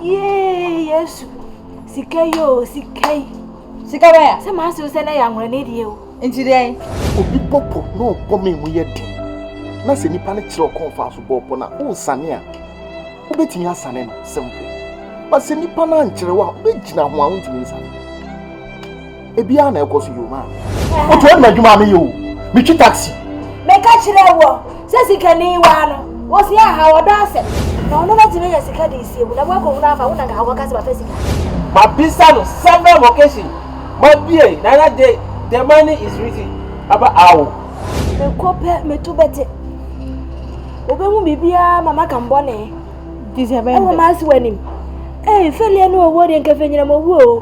Yee Yesu. Sika yi o, sika yi. Sika bɛn a? Sɛ maa se wo sɛ na yɛ anwura ne deɛ o. Nti dɛn? Obi bɔ po na ɔbɔ me mu yɛ den. Na sɛ nipa no kyerɛ ɔkɔn fa so bɔɔ po no a, wonsane a, wobɛtumi asane no simple. But sɛ nipa no ankyerɛ wo a, wobɛgyina ho a wontumi nsane. ebi a na ɛkɔ so yɛ o maa wotu ɛnna adwuma a meyɛ o metwi taxi. meka kyerɛ wɔ sɛ sikani waa no wɔsi aha wɔdɔ asɛm na ɔno bɛtumi anya sika de sie mu na moakɔhunu afa wo na nka wɔka sɛ bɛpɛ sika mabisa no several vocation mabie nana de the money is written aba awo mekɔ pɛ meto bɛte wobɛhu biribiaa ma maka mbɔne ɛwɔ maase w'anim ee fɛliɛ ne ɔwuo deɛ nkɛfɛ nyinam ɔwuo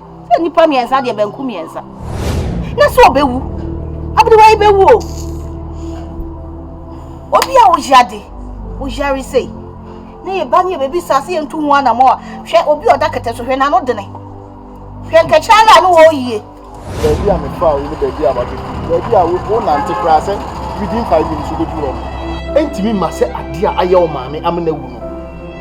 Sɛ nnipa mmiɛnsa deɛ banku mmiɛnsa. Na sɛ ɔbɛwu, aberewa yi bɛwu o. Obi a ɔyɛ ade, ɔyare sei. Na yɛ ba ne yɛ baabi saa sɛ yɛntu ho anamɔ a, hwɛ obi a ɔda kɛtɛ so, hwɛ n'ano dene. Hwɛ nkɛkyerɛ no a ne wɔɔ yie. Baabi a metra wo ne baabi a wabɛdu, baabi a wonante koraa sɛ within five minutes wobɛdu hɔ no, ɛntumi mma sɛ adeɛ a ayɛ wo maame amena wu no.